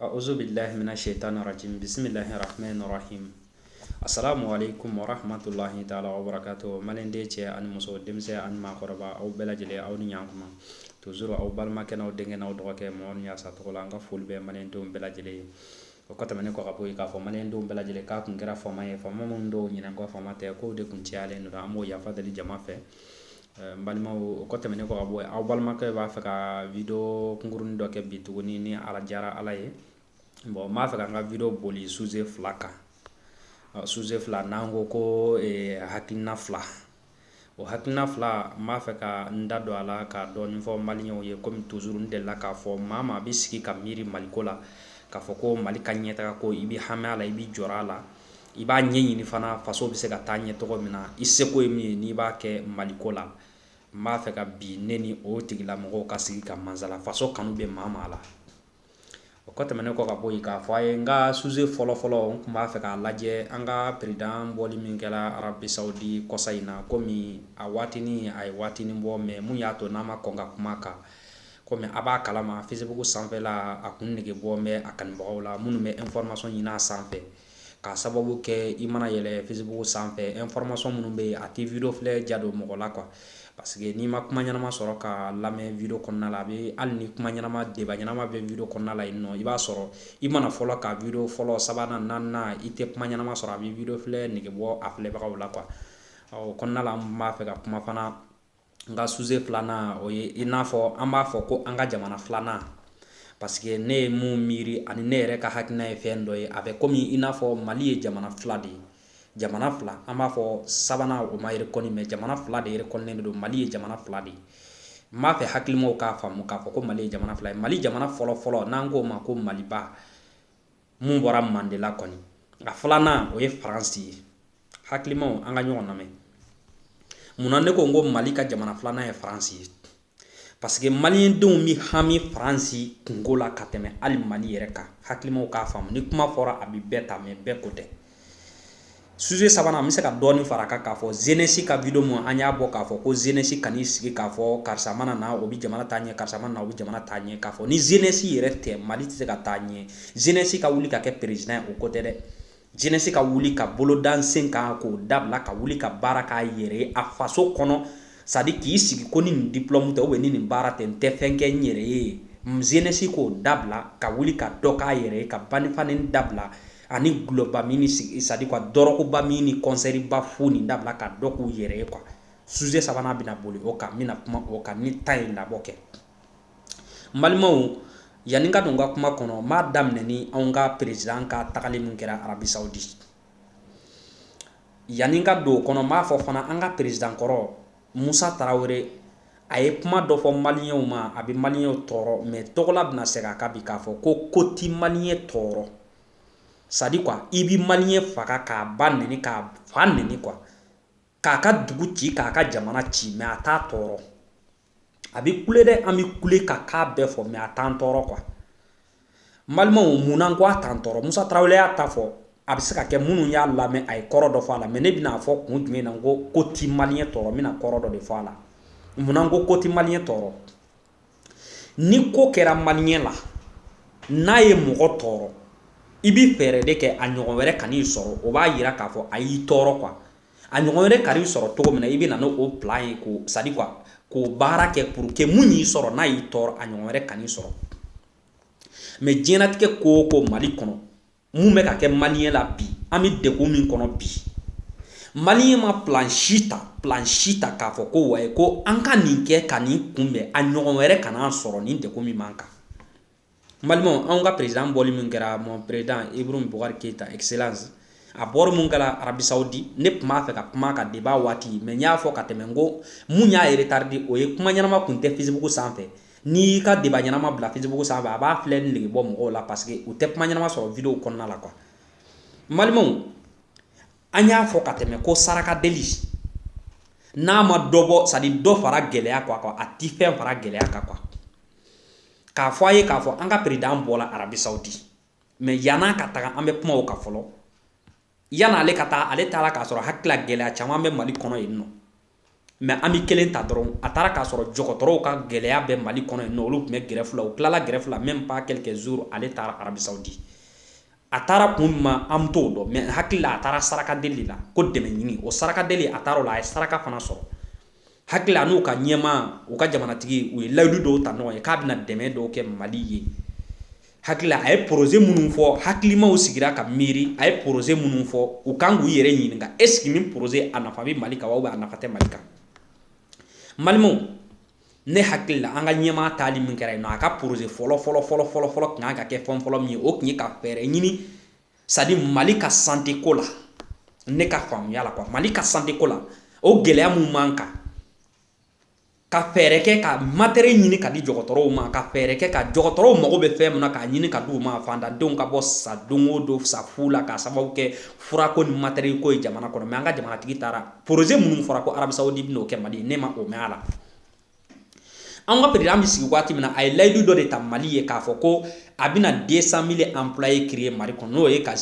Awuzu bilahi mina sitani rajimi bisimilahi rahamani rahimi asalamu aleyikumu wa rahamatulahi taala wa barakatuhu maliden cɛ ani muso denmisɛnnin ani maakɔrɔba aw bɛɛ lajɛlen aw ni ɲɔgɔn komi toujours aw balimakɛ aw denkɛ aw dɔgɔkɛ mɔgɔ min yasa tɔgɔ la an ka foli bɛ malien denw bɛɛ lajɛlen ye o kɔ tɛmɛnen kɔ ka bɔ yen k'a fɔ malien denw bɛɛ lajɛlen k'a tun kɛra fama ye fama min dɔw ɲɛ na ko fama tɛ ko de tun cayalen don an b'o yafa deli jama fɛ N balima o kɔ tɛmɛnen kɔ ka bɔ yen aw balimakɛ b'a fɛ ka video kunkurunnin dɔ kɛ bi tuguni ni a diyara ala ye bon n b'a fɛ ka n ka video boli suze fila kan suze fila n'an ko ko hakilina fila o hakilina fila n b'a fɛ ka n da don a la ka dɔɔni fɔ malienw ye kɔmi toujours n delila k'a fɔ maa maa bɛ sigi ka miiri maliko la k'a fɔ ko mali ka ɲɛtaga ko i bɛ hami a la i bɛ jɔrɔ a la I b'a ɲɛɲini fana faso bɛ se ka taa ɲɛ cogo min na i seko ye min ye n'i b'a kɛ maliko la n b'a fɛ ka bi ne ni o tigilamɔgɔw ka sigi ka masala faso kanu bɛ maa maa la o kɔ tɛmɛnen kɔ ka bɔ yen k'a fɔ aw ye n ka suze fɔlɔ fɔlɔ n tun b'a fɛ k'a lajɛ an ka perezidan bɔli min kɛra Arabi Sawudi kɔsa in na kɔmi a waatinin a ye waatinin bɔ mɛ mun y'a to ne ma kɔn ka kuma a kan kɔmi aw b'a kalama Facebook sanfɛla a kun nege bɔ bɛ a kanubagaw la minnu bɛ information ɲini a sanfɛ K'a sababu kɛ i mana yɛlɛ Facebook sanfɛ information minnu bɛ yen a tɛ video filɛ diya don mɔgɔ la quoi parce que n'i ma kuma ɲɛnama sɔrɔ ka lamɛn video kɔnɔna la a bɛ hali ni kuma ɲɛnama débat ɲɛnama bɛ video kɔnɔna la yen nɔ i b'a sɔrɔ i mana fɔlɔ ka video fɔlɔ sabanan naaninan i tɛ kuma ɲɛnama sɔrɔ a bɛ video filɛ nege bɔ a filɛbagaw la quoi o kɔnɔna la n b'a fɛ ka kuma fana n ka suze filanan o ye i n'a fɔ an b'a fɔ ko an ka jamana filanan parce que ne ye mun miiri ani ne yɛrɛ ka hakilina ye fɛn dɔ ye a bɛ komi i n'a fɔ mali ye jamana fila de ye jamana fila an b'a fɔ sabanan o ma rekɔni mɛ jamana fila de rekɔnilen de don mali ye jamana fila de ye n b'a fɛ hakilimaw k'a faamu k'a fɔ ko mali ye jamana fila ye mali jamana fɔlɔfɔlɔ n'an k'o ma ko maliba mun bɔra Mande la kɔni a filanan o ye faransi ye hakilimaw an ka ɲɔgɔn lamɛn munna ne ko n ko mali ka jamana filanan ye faransi ye parce que malien denw bɛ hami faransi kunko la ka tɛmɛ hali mali yɛrɛ kan hakilimaw k'a faamu ni kuma fɔra a bɛ bɛɛ ta mɛ bɛɛ ko tɛ suze sabanan an bɛ se ka dɔɔni fara a kan k'a fɔ zenesi ka video mun an y'a bɔ k'a fɔ ko zenesi kan'i sigi k'a fɔ karisa mana na o bɛ jamana taa ɲɛ karisa mana na o bɛ jamana taa ɲɛ k'a fɔ ni zenesi yɛrɛ tɛ mali tɛ se ka taa ɲɛ zenesi ka wuli ka kɛ perezidan ye o ko tɛ dɛ zenesi ka wuli ka bolo da sen kan k'o dabila ka wuli ka baara kɛ a yɛrɛ ye a faso kɔnɔ sadi k'i sigi ko ni nin diplɔmu tɛ ubiyɛn ni nin baara tɛ n tɛ fɛn kɛ n yɛrɛ ye zenesi k'o dabila ka wuli ka dɔ k'a yɛrɛ ye ka ba ni fa nɛni dabila ani gulɔba min ni c'est à dire quoi dɔrɔguba min ni kɔnsɛriba fo nin dabila ka dɔ k'u yɛrɛ ye quoi sujet sabanan bɛna boli o kan n bɛna kuma o kan ni temps ye labɔ kɛ n balimaw yanni n ka don n ka kuma kɔnɔ n b'a daminɛ ni anw ka perezidan ka tagali min kɛra arabi saudi yanni n ka don o kɔnɔ n b'a fɔ fana an ka perezidan kɔrɔ Musa Tarawele, a ye kuma dɔ fɔ Maliɲɛnw ma, a bɛ Maliɲɛnw tɔɔrɔ mais Tɔgɔla bɛna segin a kan bi k'a fɔ ko ko tɛ Maliɲɛn tɔɔrɔ c'est à dire quoi i bɛ Maliɲɛn faga k'a ba nɛni k'a fa nɛni quoi k'a ka dugu ci k'a ka jamana ci mais a t'a tɔɔrɔ, a bɛ kule dɛ, an bɛ kule ka k'a bɛɛ fɔ mais a t'an tɔɔrɔ quoi balimaw munna n ko a t'an tɔɔrɔ musa tarawele y'a ta fɔ a bɛ se ka kɛ minnu y'a lamɛn a ye kɔrɔ dɔ fɔ a la mais ne bɛn'a fɔ kun jumɛn na ko ko ti maliɲɛn tɔɔrɔ n bɛna kɔrɔ dɔ de fɔ a la munna n ko ko ti maliɲɛn tɔɔrɔ ni ko kɛra maliɲɛn la n'a ye mɔgɔ tɔɔrɔ i bɛ fɛɛrɛ de kɛ a ɲɔgɔn wɛrɛ kan'i sɔrɔ o b'a yira k'a fɔ a y'i tɔɔrɔ quoi a ɲɔgɔn wɛrɛ kan'i sɔrɔ cogo min na i bɛ na n'o plan ye ko c'est à dire quoi k'o baara kɛ pour que min y'i sɔrɔ n'a y'i tɔɔrɔ a ɲɔgɔn wɛrɛ kan'i sɔrɔ mais diɲɛlatigɛ ko o ko mali kɔnɔ minnu bɛ ka kɛ maliɲɛn la bi an bɛ degun min kɔnɔ bi maliɲɛn ma plan si ta plan si ta k'a fɔ ko wa ko an ka nin kɛ ka nin kunbɛn a ɲɔgɔn wɛrɛ kan'an sɔrɔ nin degun min b'an kan n balimaw an ka perezidan bɔli min kɛra mon président Ibrahim Boubacar Keita excellence a bɔra min kɛra arabi saudi ne tun b'a fɛ ka kuma ka débat waati mais n y'a fɔ ka tɛmɛ n ko mun y'a retardé o ye kuma ɲɛnama tun tɛ facebook sanfɛ N'i y'i ka débat ɲɛnama bila facebook sanfɛ a b'a filɛli nege bɔ mɔgɔw la parce que u tɛ kuma ɲɛnama sɔrɔ vidéo kɔnɔna la quoi n balimaw an y'a fɔ ka tɛmɛ ko saraka deli n'a ma dɔ bɔ c'est à dire dɔ fara gɛlɛya kan quoi a tɛ fɛn fara gɛlɛya kan quoi k'a fɔ a ye k'a fɔ an ka perezidan bɔla arabi saudi mais yann'a ka taga an bɛ kuma o kan fɔlɔ yann'ale ka taa ale taara k'a sɔrɔ hakili la gɛlɛya caman bɛ mali kɔnɔ yen nɔ mais an bɛ kelen ta dɔrɔn a taara k'a sɔrɔ dɔgɔtɔrɔw ka gɛlɛya bɛ mali kɔnɔ yen nɔ olu tun bɛ grève la u tilala grève la même pas quelques jours ale taara arabi saudi a taara kun min ma an t'o dɔn mais hakilila a taara saraka deli la ko dɛmɛ ɲini o saraka deli a taara o la a ye saraka fana sɔrɔ hakili la n'u ka ɲɛmaa u ka jamanatigi u ye layidu dɔw ta ɲɔgɔn ye k'a bɛna dɛmɛ dɔw kɛ mali ye hakili la a ye poroze minnu fɔ hakilimaw sigira ka miiri a ye poroze minnu fɔ u kan k'u yɛrɛ ɲininka est-ce que nin poroze a nafa bɛ mali kan ou bien a nafa tɛ mali kan n balimaw ne hakili la an ka ɲɛmaa taali min kɛra yen nɔ a ka poroze fɔlɔ fɔlɔ fɔlɔ fɔlɔ fɔlɔ tun kan ka kɛ fɛn fɔlɔ min ye o tun ye ka fɛɛrɛ ɲini c'est à dire Mali ka santé ko la ne ka faamuya la quoi Mali ka santé ko la o gɛlɛya mun b'an kan ka fɛɛrɛ kɛ ka matériel ɲini ka di dɔgɔtɔrɔw ma ka fɛɛrɛ kɛ ka dɔgɔtɔrɔw mago bɛ fɛn min na k'a ɲini ka di u ma fantandenw ka bɔ sa don o don sa fu la k'a sababu kɛ furako ni matériel ko ye jamana kɔnɔ mais an ka jamanatigi taara projet minnu fɔra ko Arabie Saoudite bɛn'o kɛ Mali ne ma o mɛn a la an ka président bɛ sigi waati min na a ye layidu dɔ de ta Mali ye k'a fɔ ko a bɛna deux cent mille employés créer Mali kɔnɔ n'o ye ka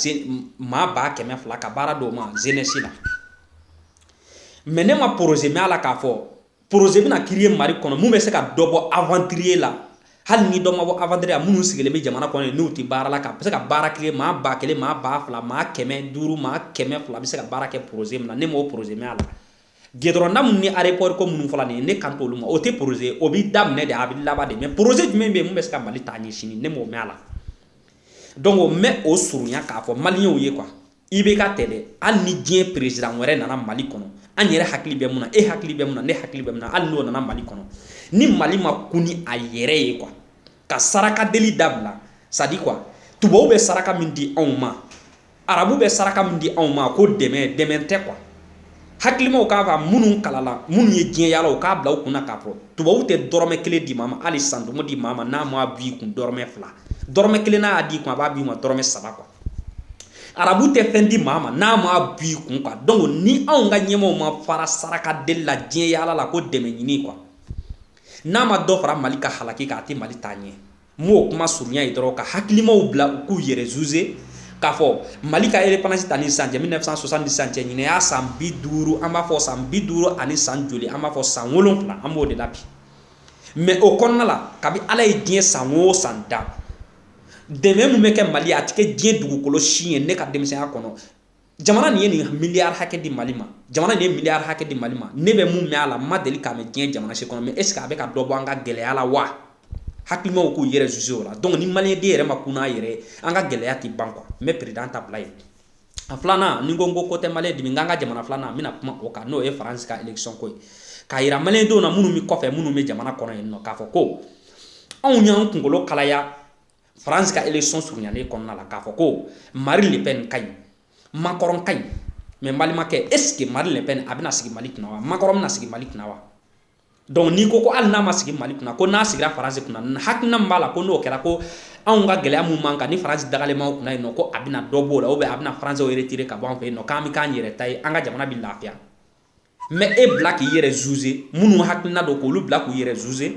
maa ba kɛmɛ fila ka baara d'o ma jeunesse la mais ne ma projet mɛn a la k'a fɔ projet bɛna créer Mali kɔnɔ min bɛ se ka dɔ bɔ aventurier la hali ni dɔ ma bɔ aventurier la minnu sigilen bɛ jamana kɔnɔ n'u tɛ baara la k'a bɛ se ka baara créer maa ba kelen maa ba fila maa kɛmɛ duuru maa kɛmɛ fila bɛ se ka baara kɛ projet min na ne m'o projet mɛn a la Gudɔrɔnda minnu ni aéroport ko minnu fɔla nin ye ne kan t'olu ma o tɛ projet o bɛ daminɛ de a bɛ laban de mais projet jumɛn bɛ yen mun bɛ se ka Mali taa ɲɛ sini ne m'o mɛn a la donc o mɛn o surunya k'a fɔ maliyɛnw ye quoi IBK tɛ dɛ hali ni diɲɛ président wɛrɛ nana Mali kɔnɔ an yɛrɛ hakili bɛ mun na e hakili bɛ min na ne hakili bɛ min na hali n'o nana Mali kɔnɔ ni Mali ma kun ni a yɛrɛ ye quoi ka saraka deli dabila c'est à dire quoi tubabu bɛ saraka min di anw ma arabu bɛ saraka min di anw ma ko dɛmɛ dɛmɛ tɛ quoi hakilimaw k'a fɔ minnu kalala minnu ye diɲɛ yaala u k'a bila u kunna k'a fɔ tubabu tɛ dɔrɔmɛ kelen di maa ma hali centime di maa ma n'a ma b'i kun dɔrɔmɛ fila dɔrɔmɛ kelen n'a y'a d'i kun a b'a b'i ma dɔrɔmɛ saba quoi arabu tɛ fɛn di maa ma n'a ma b'i kun quoi donc ni anw ka ɲɛmaaw ma fara saraka deli la diɲɛ yaala la ko dɛmɛ ɲini quoi n'a ma dɔ fara Mali ka halaki kan a tɛ Mali taa ɲɛ M'o kuma surunya ye dɔrɔn ka hakilimaw bila u k'u yɛrɛ juger k'a fɔ Mali ka indépendance ta ni san cɛ mille neuf cent soixante ni san cɛ ɲinan y'a san bi duuru an b'a fɔ san bi duuru ani san joli an b'a fɔ san wolonfila an b'o de la bi mais o kɔnɔna la kabi Ala ye diɲɛ san o san da dɛmɛ min bɛ kɛ Mali a tɛ kɛ diɲɛ dugukolo si ye ne ka denmisɛnya kɔnɔ jamana nin ye nin miliyari hakɛ di Mali ma jamana nin ye miliyari hakɛ di Mali ma ne bɛ mun mɛn a la n ma deli k'a mɛn diɲɛ jamana si kɔnɔ mais est ce que a bɛ ka dɔ bɔ an ka gɛlɛya la wa hakilimaw k'u yɛrɛ juger o la donc ni Mali den yɛrɛ ma kun n'a yɛrɛ ye an ka gɛlɛya tɛ ban quoi n bɛ président ta bila yen a filanan ni ko n ko tɛ Mali dimi an ka jamana filanan n bɛna kuma o kan n'o ye Faransi ka élection ko ye k'a jira Mali denw na minnu bɛ kɔfɛ minnu bɛ jamana kɔnɔ yen nɔ k'a fɔ ko anw y'an kunkolo kalaya France ka élection surunyalen kɔnɔna la k'a fɔ ko Marie Le Pen ka ɲi Macron ka ɲi mais n balimakɛ est ce que Marie Le Pen a bɛna sigi Mali kunna wa Macron bɛna sigi Mali kunna wa donc n'i ko ko hali n'a ma sigi Mali kunna ko n'a sigira France kunna hakilina min b'a la ko n'o kɛra ko anw ka gɛlɛya mun b'an kan ni France dagalen b'anw kunna yen nɔ ko a bɛna dɔ b'o la ou bien a bɛna Français retirer ka bɔ an fɛ yen nɔ k'an bɛ k'an yɛrɛ ta ye an ka jamana bɛ lafiya mɛ e bila k'i yɛrɛ zuze minnu hakilina don k'olu bila k'u yɛrɛ zuze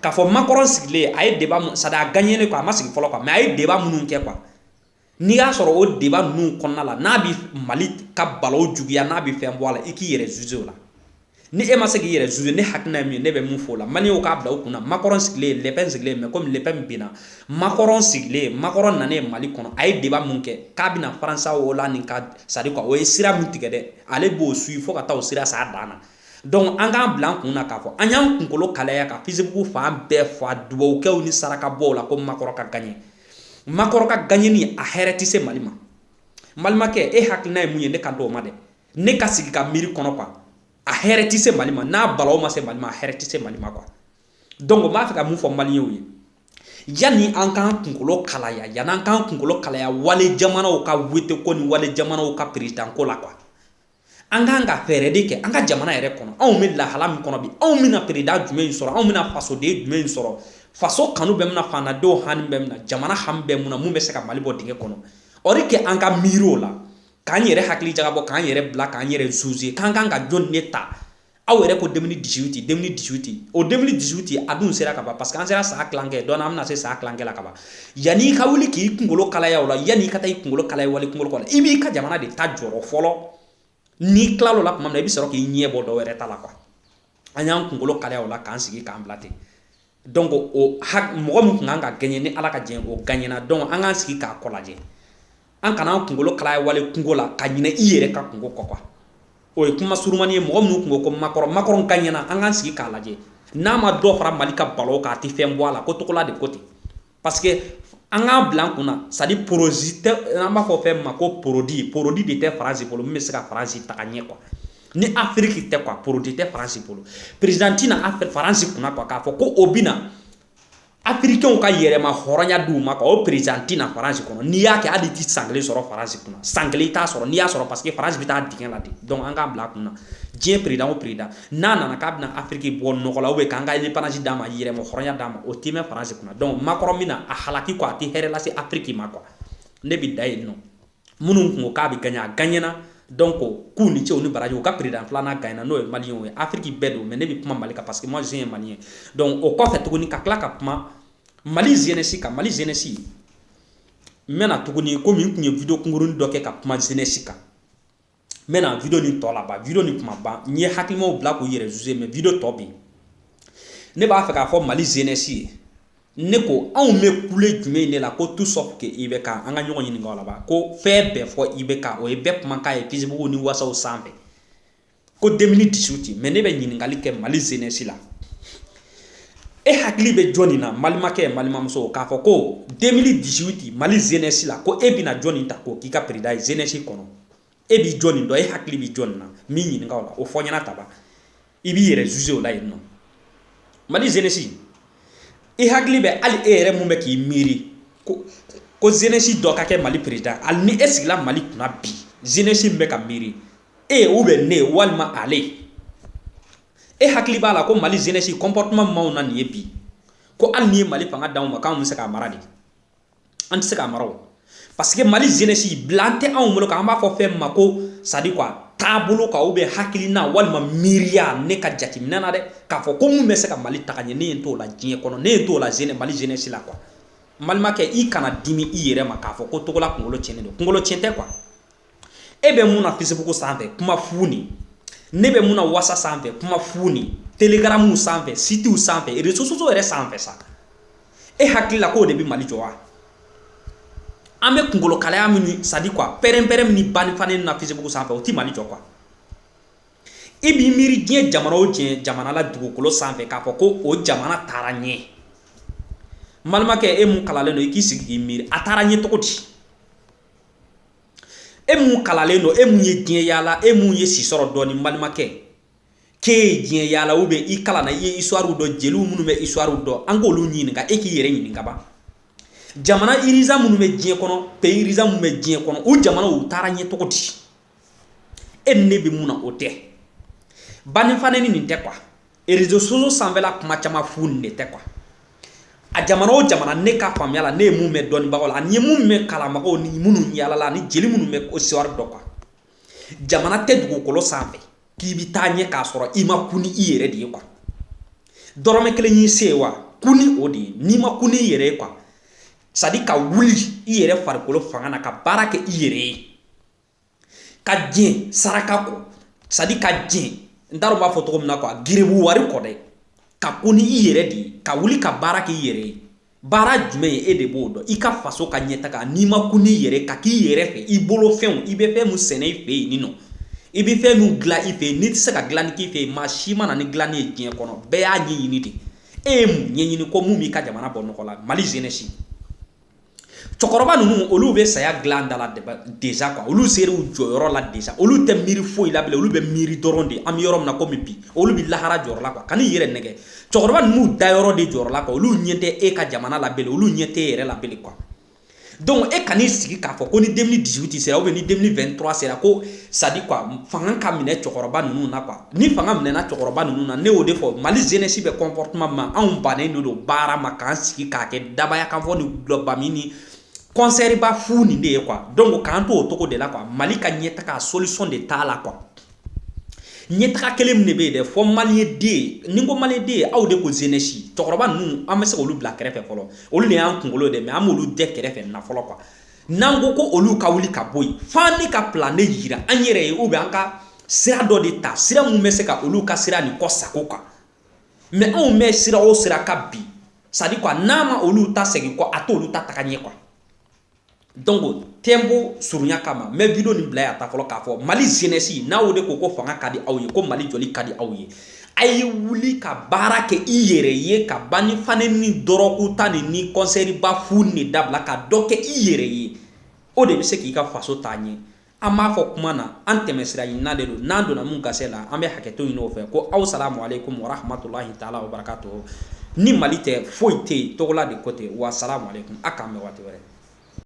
k'a fɔ makɔrɔn sigilen a ye deba sadi a gaɲɛlen kɔ a ma sigi fɔlɔ kuwa mɛ a ye deba minnu kɛ kuwa n'i y'a sɔrɔ o deba ninnu kɔnɔna la n'a bɛ mali ka balawu juguya n'a bɛ fɛn bɔ a la i k'i yɛrɛ zuze o la ni e ma se k'i yɛrɛ zuze ne hakilina ye min ye ne bɛ mun fɔ o la maliyɛnw k'a bila u kunna makɔrɔn sigilen lɛpɛn sigilen mɛ komi lɛpɛn binna Makɔrɔn sigilen makɔrɔn nanen mali kɔnɔ a ye deba min kɛ k'a bɛna faransuwa olandi ka sadi o ye sira min tigɛ dɛ ale b'o suwi fo ka taa o sira s'a dan na dɔnku an k'a bila an kun na k'a fɔ an y'an kunkolo kalaya ka fesibuku fan bɛɛ fa dubawukɛ ni sarakabɔ la ko makɔrɔn ka gaɲɛ makɔrɔn ka gaɲɛni a hɛrɛ tɛ se mali ma balimakɛ e hakilina ye mun ye ne kan t'o ma dɛ ne ka sigi ka miiri kɔnɔ kuwa a hɛrɛ tɛ se mali ma n'a balawu ma se mali ma a hɛrɛ tɛ se mali ma kuwa dɔnku n b'a fɛ ka mun fɔ maliyɛnw ye Yanni an k'an kunkolo kalaya yanni an k'an kunkolo kalaya wali jamanaw ka wete ko ni wali jamanaw ka peresidanko la kuwa an k'an ka fɛɛrɛ de kɛ an ka jamana yɛrɛ kɔnɔ anw bɛ lahala min kɔnɔ bi anw bɛna peresidan jumɛn sɔrɔ anw bɛna fasoden jumɛn sɔrɔ faso kanu bɛ min na faantandenw hami bɛ min na jamana hami bɛ min na min bɛ se ka mali bɔ dingɛ kɔnɔ o de kɛ an ka miiriw la k'an yɛrɛ hakili jagabɔ k'an yɛrɛ bila k'an yɛrɛ zuze k'an kan ka jɔn de ta aw yɛrɛ ko deux mille dix-huit deux mille dix-huit o deux mille dix-huit a dun sera ka ban parce que an sera san tilankɛ donc an bɛna se san tilankɛ la ka ban yanni i ka wuli k'i kunkolo kalaya o la yanni i ka taa i kunkolo kalaya wali kunkolo kɔnɔ i b'i ka jamana de ta jɔrɔ fɔlɔ n'i tila o la tuma min na i bɛ sɔrɔ k'i ɲɛ bɔ dɔ wɛrɛ ta la quoi an y'an kunkolo kalaya o la k'an sigi k'an bila ten Dɔnku o mɔgɔ min tun kan ka gaɲɛ ni ala ka jɛn o gaɲɛna dɔnku an ka sigi k'a kɔ lajɛ an kana an kunkolo kalaya wali kunko la ka ɲinɛ i yɛrɛ ka kunko kɔ kuwa o ye kuma surunmani ye mɔgɔ minnu tun ko makɔrɔn makɔrɔn gaɲɛna an ka sigi k'a lajɛ n'a ma dɔ fara mali ka balawu kan a tɛ fɛn bɔ a la ko tɔgɔla de ko ten parce que an k'a bila an kunna c'est à dire porosi tɛ an b'a fɔ fɛn min ma ko produit produit de tɛ faransi bolo min bɛ se ka faransi taga ɲɛ quoi ni afiriki tɛ quoi produit tɛ faransi bolo président tɛ na faransi kunna quoi k'a fɔ ko o bɛna afirikenw ka yɛrɛma hɔrɔnya d'u ma quoi o président tɛ na faransi kɔnɔ n'i y'a kɛ hali i tɛ san kelen sɔrɔ faransi kunna san kelen i t'a sɔrɔ n'i y'a sɔrɔ parce que faransi bɛ taa dingɛ la de donc an k'a bila an kunna diɲɛ président o président n'a nana k'a bɛna afiriki bɔ nɔgɔ la ubiyɛn k'an ka ɛndepandansi d'an ma yɛrɛmahɔrɔnya d'an ma o tɛ mɛn faransi kunna dɔnku makɔrɔn bɛna a halaki kuwa a tɛ hɛrɛ lase afiriki ma kuwa ne bɛ dan yen nɔ minnu tun ko k'a bɛ gaɲɛ a gaɲɛna dɔnku ko k'u ni ce u ni baraji u ka peresidan filanan gaɲɛna n'o ye maliyɛnw ye afiriki bɛɛ don mɛ ne bɛ kuma mali kan parce que moi je suis un maliyɛn dɔnku o kɔfɛ tuguni ka tila ka kuma mali zenɛsi kan mali zenɛsi n bɛna tuguni komi n tun ye video kunkurunin dɔ kɛ ka kuma zenɛsi kan n bɛna video nin tɔ laban video nin kuma ban n ye hakilimaw bila k'u yɛrɛ juge mais video tɔ bɛ yen ne b'a fɛ k'a fɔ mali jeunesse ye ne ko anw bɛ kule jumɛn de la ko tout sauf que ibk an ka ɲɔgɔn ɲininka o la ban ko fɛn bɛɛ fɔ ibk o ye bɛɛ kumakan ye facebook ni whatsapp sanfɛ ko 2018 mais ne bɛ ɲininkali kɛ mali jeunesse la e hakili bɛ jɔni na malimakɛ ye malimamuso k'a fɔ ko 2018 mali jeunesse la ko e bɛna jɔni ta k'o k'i ka président ye jeunesse kɔnɔ e bi jɔni dɔn e hakili bi jɔni na n b'i ɲininka o la o fɔ ɲɛna ta ban i b'i yɛrɛ zuze o la yen nɔ mali zenesi i hakili bɛ hali e yɛrɛ mun bɛ k'i miiri ko ko zenesi dɔ ka kɛ mali perezidan hali ni e sigila mali kunna bi zenesi min bɛ ka miiri e ou bien ne walima ale e hakili b'a la ko mali zenesi comportement maaw na nin ye bi ko hali n'i ye mali fanga d'anw ma k'anw bɛ se k'a mara de an tɛ se k'a mara parce que mali jenesi bilan tɛ anw bolo k'an b'a fɔ fɛn ma ko sadi kuwa taabolo kuwa ou bien hakilina walima miiriya ne ka jateminɛ na dɛ k'a fɔ ko min bɛ se ka mali taga ɲɛ ne ɲɛ t'o la diɲɛ kɔnɔ ne ɲɛ t'o la jene mali jenesi la kuwa n balimakɛ i kana dimi i yɛrɛ ma k'a fɔ ko togola kunkolo cɛnnen don kunkolo cɛn tɛ kuwa e bɛ mun na facebook sanfɛ kuma fu ni ne bɛ mun na whatsapp sanfɛ kuma fu ni telegram sanfɛ sitiw sanfɛ reseaux sociaux yɛrɛ sanfɛ sa e hakili la k'o de bɛ mali jɔ wa an bɛ kunkolokalaya min sadi quoi pɛrɛnpɛrɛn ni ba ni fa nɛni na facebook sanfɛ o tɛ mali jɔ kuwa e b'i miiri diɲɛ jamana o diɲɛ jamana la dugukolo sanfɛ k'a fɔ ko o jamana taara ɲɛ balimakɛ e mun kalalen don i k'i sigi k'i miiri a taara ɲɛ cogo di e mun kalalen don e mun ye diɲɛ yaala e mun ye si sɔrɔ dɔɔnin n balimakɛ k'e ye diɲɛ yaala ou bien i kalanna i ye histoire dɔn jeliw minnu bɛ histoire dɔn an k'olu ɲininka e k'i yɛrɛ ɲininka ban jamana iriza minnu bɛ diɲɛ kɔnɔ pays iriza minnu bɛ diɲɛ kɔnɔ o jamanaw taara ɲɛ cogo di e ni ne bɛ mun na o tɛ ba ni fa nɛni nin tɛ quoi reseaux sociaux sanfɛla kuma caman fu nin de tɛ quoi a jamana o jamana ne ka faamuya la ne ye mun mɛn dɔnnibagaw la ani n ye mun mɛn kalanbagaw ni minnu yaalala ani jeli minnu bɛ histoire dɔn quoi jamana tɛ dugukolo sanfɛ k'i bɛ taa ɲɛ k'a sɔrɔ i ma kun ni i yɛrɛ de ye quoi dɔrɔmɛ kelen y'i se ye wa kun ni o de ye n'i ma kun ni i yɛrɛ ye quoi c'est à dire ka wuli i yɛrɛ farikolo fanga na ka baara kɛ i yɛrɛ ye ka diɲɛ saraka kɔ sadi ka diɲɛ n taara b'a fɔ cogo min na quoi garibu wari kɔ dɛ ka kun n'i yɛrɛ de ye ka wuli ka baara k'i yɛrɛ ye baara jumɛn ye e de b'o dɔn i ka faso ka ɲɛtaga n'i ma kun n'i yɛrɛ ka k'i yɛrɛ fɛ i bolo fɛnw i bɛ fɛn min sɛnɛ i fɛ yen nin nɔ i bɛ fɛn min dilan i fɛ yen n'i tɛ se ka dilanni k'i fɛ yen maa si ma na ni dilanni ye diɲɛ kɔnɔ bɛɛ y'a ɲɛɲini de e ye mun ɲɛɲini ko min b'i ka jamana bɔ nɔgɔ la mali jenesi cɛkɔrɔba ninnu olu bɛ saya dilan da la deza kuwa olu sera u jɔyɔrɔ la deza olu tɛ miiri foyi la bele olu bɛ miiri dɔrɔn de an bɛ yɔrɔ min na komi bi olu bɛ lahara jɔrɔ la kuwa kan'i yɛrɛ nɛgɛn cɛkɔrɔba ninnu dayɔrɔ de jɔrɔ la kuwa olu ɲɛ tɛ e ka jamana la bele olu ɲɛ tɛ e yɛrɛ la bele kuwa dɔnku e kan'i sigi k'a fɔ ko ni deux mille dix-huit sera ou bien ni deux mille vingt-trois sera ko sadi kuwa fanga ka minɛ cɛkɔrɔba ninnu na kuwa Ni fanga minɛna cɛkɔrɔba ninnu na ne y'o de fɔ mali zenesi bɛ kɔnpɔrɔtiman ma anw bannen de don baara ma k'an sigi k'a kɛ dabaya kan fɔ ni dɔlɔba min ni kɔnsɛriba fu nin de ye kuwa dɔnku k'an to o cogo de la kuwa mali ka ɲɛ taga solisiyɔn de t'a la kuwa ɲɛ taga kelen min de bɛ yen dɛ fɔ maliyɛn den ni n ko maliyɛn den aw de ko zenesi cɛkɔrɔba ninnu an bɛ se k'olu bila kɛrɛfɛ fɔlɔ olu de y'an kunkolo de mɛ an b'olu dɛ kɛrɛfɛ na fɔlɔ kuwa N'an ko ko olu ka wuli ka bɔ yen f'an ne ka plan ne jira an yɛrɛ ye ou bien an ka sira dɔ de ta sira min bɛ se ka olu ka sira nin kɔsagon kuwa mɛ anw bɛ sira o sira kan bi sadi kuwa n'a ma olu ta segin kɔ a t'olu ta taga ɲɛ kuwa dɔnku tiempo surunya kama n bɛ video nin bila yan tan fɔlɔ k'a fɔ mali zenesi n'aw de ko ko fanga ka di aw ye ko mali jɔli ka di aw ye A ye wuli ka baara kɛ i yɛrɛ ye ka ba ni fa nɛni dɔrɔgu ta nin ni kɔnsɛriba fu de dabila ka dɔ kɛ i yɛrɛ ye o de bɛ se k'i ka faso taa ɲɛ an b'a fɔ kuma na an tɛmɛsira ɲinina de don n'an donna min gasi la an bɛ hakɛto ɲini o fɛ ko aw salamu aleyikum wa rahamatulahi taala wa barakatuhu ni mali tɛ foyi tɛ yen Togola de ko ten wa salamu aleyikum a k'an bɛn waati wɛrɛ